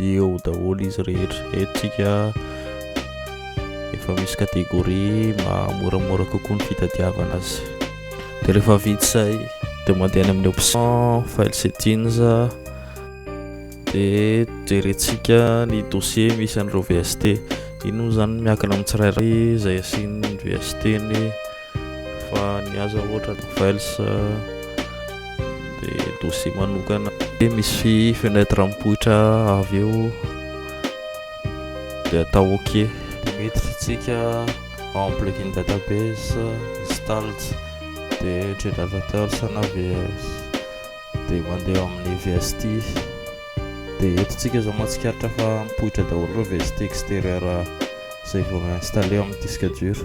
eo daholo izy rehetra eto tsika efa misy catégorie mahamoramora kokoa ny fitadiavana azy de rehefa vita zay de mandeha any amin'ny option file settings de jerentsika ny dossier misy an'ireo VST iny moa zany miankina amin'ny tsirairay izay asian'ny VST ny fa ny aza ohatra vels dia dossier manokana dia misy fenetre mipoitra avy eo dia atao ok dia miditra tsika en plugin database installed dia generateur sana vs dia mandeha amin'ny vst dia eto tsika zao mahatsikaritra fa mipoitra daholo ireo vst exterieur izay vao installé amin'ny disque dur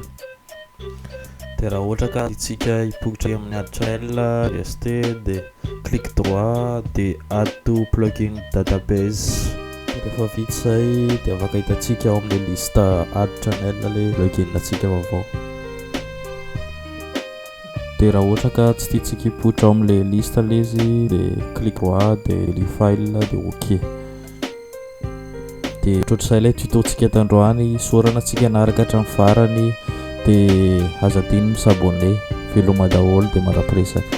dia raha ohatra ka itsika hipokitra amin'ny adtrail rst dia clic droit dia add to plugin database rehefa vita izay dia afaka hitantsika ao amin'ny liste add channel le plugin atsika vaovao dia raha ohatra ka tsy tiantsika hipoitra ao amin'ilay liste ilay izy dia clic droit dia delete file dia ok dia ohatr'izay ilay tuto-tsika tandroany sorana tsika naraka hatramin'ny farany dia aza adino ny sabone veloma daholo dia marapiresaka